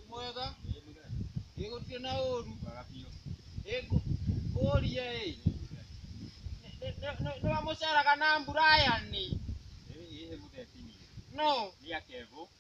mwega ĩ gũtirĩ na ũru ĩ ngũ- ngũrie ĩ Nĩ- nĩ- nĩ- nĩwamũceraga na mburayani no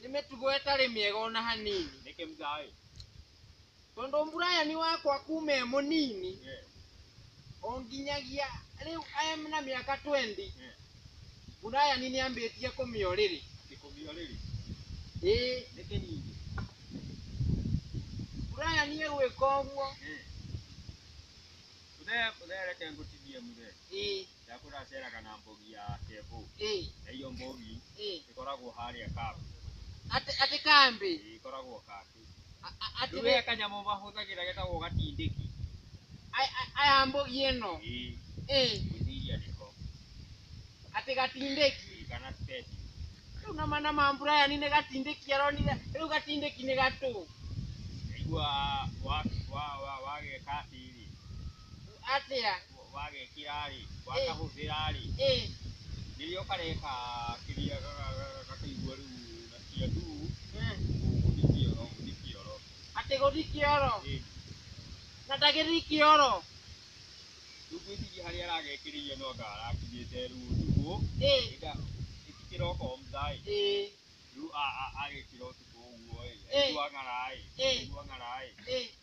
nĩ mĩtugo ĩtarĩ mĩega ona hanini Nĩkĩ mzaĩ? tondũ mburayani wakwa kuma e mũnini Eh. o nginyagia rĩu e na mĩaka 20 Eh. mburayani nĩ ambĩtie kũmĩa ũrĩrĩ Kĩkũmio rĩrĩ. ĩĩ Nĩkĩ ningĩ? mburayani egwĩka ũguo Eh. Mzee, mzee reke ngũtinie mzee. ĩĩ ya kũraceraga na mbogi ya kevo ĩ na iyo mbogi ĩ ĩkoragwo harĩa kambĩ atĩ atĩ kambĩ Ĩĩ, ĩkoragwo kambĩ A- a- atĩ rĩu he kanyamũ mahũthagĩra getagwo gatindĩki a- a- aya mbogi ĩno Ĩĩ, ĩ ngwĩciria nĩko atĩ gatindĩki Ĩĩ, kana speci rĩu na mana ma mburayani nĩ gatindĩki aronire rĩu gatindĩki nĩ gatũ aigua wageka atĩrĩ atĩa wagekira-rĩ, wakahũthĩra-rĩ, rĩrĩa ũkareka kĩrĩa gakĩigua rĩu nasikia nduu, gũthiĩ kĩoro, gũthiĩ kĩoro. Atĩ gũthiĩ kĩoro? Ĩni. Na ndagĩthiĩ kĩoro? Rĩu ngwĩciria harĩa aragekĩrĩire no anga arakinyĩte rĩu ũtukũ, ĩnda ĩti kĩroko mtha-ĩ, rĩu agĩkĩra ũtukũ ũguo-ĩ, aigua ng'ara-ĩ, aigua ng'ara-ĩ.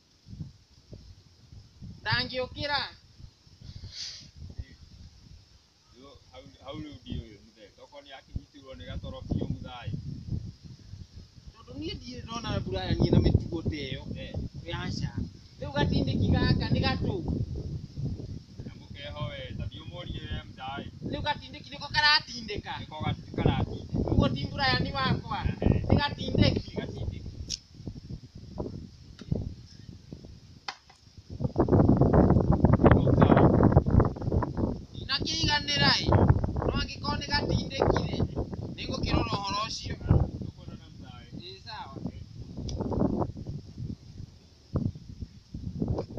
ndangĩũkĩra Yo, hau hau rĩu ndiũĩ mũthee tokorwo nĩ akinyitirwo nĩ gatoro biũ mũthai tondũ niĩ ndirĩ ndona mbura yanie na mĩtugo ta ĩyo Eh, yaca rĩu gatindĩki gaka nĩ gatũ na mũkeho we ta ndiũmũrie we mũthai rĩu gatindĩki nĩko karatindĩka nĩko gatu- karati ũguo ti mbura yani wakwa nĩ gatindĩki gatindĩki Ndakĩiganĩra-ĩ, no angĩkorwo nĩ gatindĩki-rĩ, nĩ ngũkĩrora ũhoro ũcio. Ĩ sawa.